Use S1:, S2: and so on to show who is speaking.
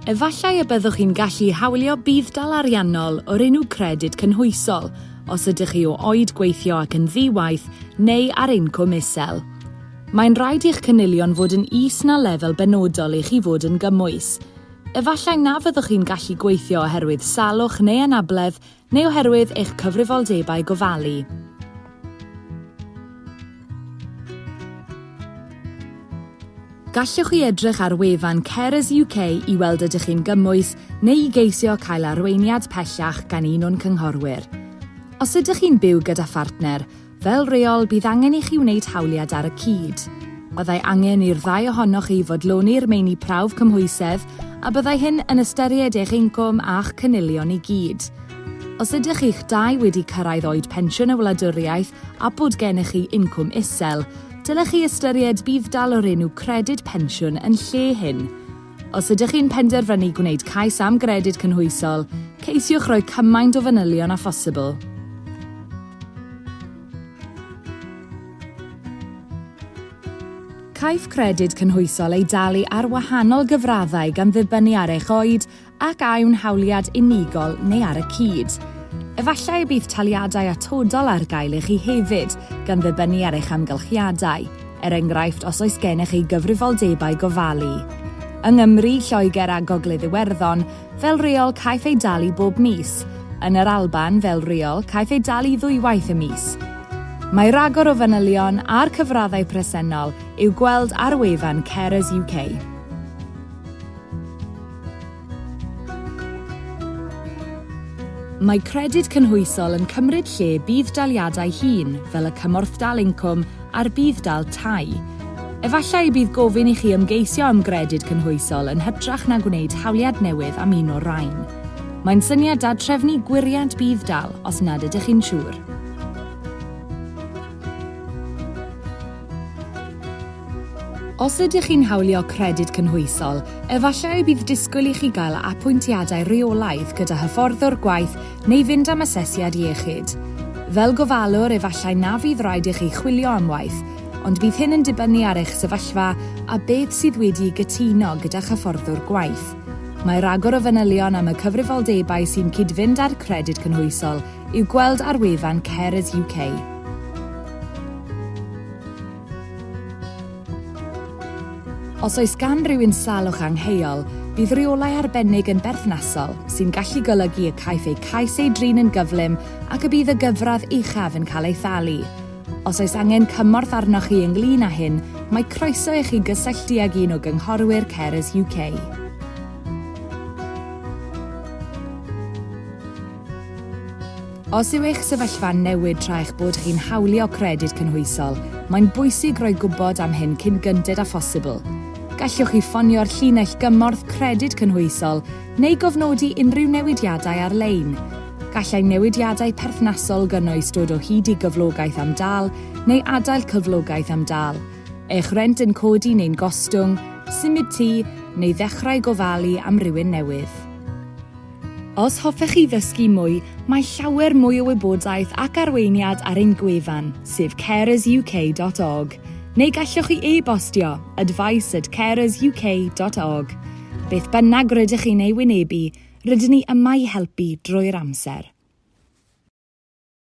S1: Efallai y byddwch chi'n gallu hawlio budd-dal ariannol o'r enw Credyd Cynhwysol os ydych chi o oed gweithio ac yn ddi-waith neu ar incwm isel. Mae'n rhaid i'ch cynilion fod yn is na lefel benodol i chi fod yn gymwys. Efallai na fyddwch chi'n gallu gweithio oherwydd salwch neu anabledd Neu oherwydd eich cyfrifoldebau gofalu. Gallwch chi edrych ar wefan Carers UK i weld ydych chi'n gymwys neu i geisio cael arweiniad pellach gan un o'n cynghorwyr. Os ydych chi'n byw gyda phartner, Fel rheol, bydd angen i chi wneud hawliad ar y cyd. Byddai angen i'r ddau ohonoch chi fodloni'r meini prawf cymhwysedd a byddai hyn yn ystyried eich incwm a'ch cynilion i gyd. Os ydych chi'ch dau wedi cyrraedd oed pensiwn y wladwriaeth a bod gennych chi incwm isel, dylech chi ystyried budd-dal o'r enw Credyd Pensiwn yn lle hyn. Os ydych chi'n penderfynu gwneud cais am Gredyd Cynhwysol, ceisiwch roi cymaint o fanylion â phosibl. Caiff Credyd Cynhwysol ei dalu ar wahanol gyfraddau gan ddibynnu ar eich oed ac a yw'n hawliad unigol neu ar y cyd. Efallai y bydd taliadau atodol ar gael i chi hefyd, gan ddibynnu ar eich amgylchiadau. er enghraifft os oes gennych chi gyfrifoldebau gofalu. Yng Nghymru, Lloegr a Gogledd Iwerddon, fel rheol caiff ei dalu bob mis, yn yr Alban, fel rheol, caiff ei dalu ddwywaith y mis. Mae rhagor o fanylion a'r cyfraddau presennol i'w gweld ar wefan Carers UK. Mae Credyd Cynhwysol yn cymryd lle budd-daliadau hŷn fel y Cymorthdal Incwm a'r Budd-dal Tai. Efallai y bydd gofyn i chi ymgeisio am Gredyd Cynhwysol yn hytrach na gwneud hawliad newydd am un o'r rhain. Mae'n syniad da trefnu gwiriad budd-dal os nad ydych chi'n siŵr. Os ydych chi'n hawlio Credyd Cynhwysol, efallai y bydd disgwyl i chi gael apwyntiadau rheolaidd gyda hyfforddwr gwaith neu fynd am asesiad iechyd. Fel gofalwr, efallai na fydd raid i chi chwilio am waith, ond bydd hyn yn dibynnu ar eich sefyllfa a beth sydd wedi'i gytuno gyda'ch hyfforddwr gwaith. Mae rhagor o fanylion am y cyfrifoldebau sy'n cyd-fynd â'r Credyd Cynhwysol I'w gweld ar wefan Carers UK. Os oes gan rywun salwch angheuol, bydd rheolau arbennig yn berthnasol, sy'n gallu golygu y caiff eu cais ei drin yn gyflym ac y bydd y gyfradd uchaf yn cael ei thalu. Os oes angen cymorth arnoch chi ynglyn â hyn, mae croeso i chi gysylltu ag un o gynghorwyr Carers UK. Os yw eich sefyllfa'n newid tra eich bod chi'n hawlio Credyd Cynhwysol, mae'n bwysig roi gwybod am hyn cyn gynted â phosibl. Gallwch chi ffonio'r llinell gymorth Credyd Cynhwysol neu gofnodi unrhyw newidiadau ar-lein. Gallai newidiadau perthnasol gynnwys dod o hyd i gyflogaeth am dâl neu adael cyflogaeth am dâl, eich rent yn codi neu'n gostwng, symud tŷ, neu ddechrau gofalu am rywun newydd. Os hoffech chi ddysgu mwy, mae llawer mwy o wybodaeth ac arweiniad ar ein gwefan, sef carersuk.org, neu gallwch chi e-bostio, advice at carersuk.org. Beth bynnag rydych chi'n ei wynebu, rydyn ni yma i helpu drwy'r amser.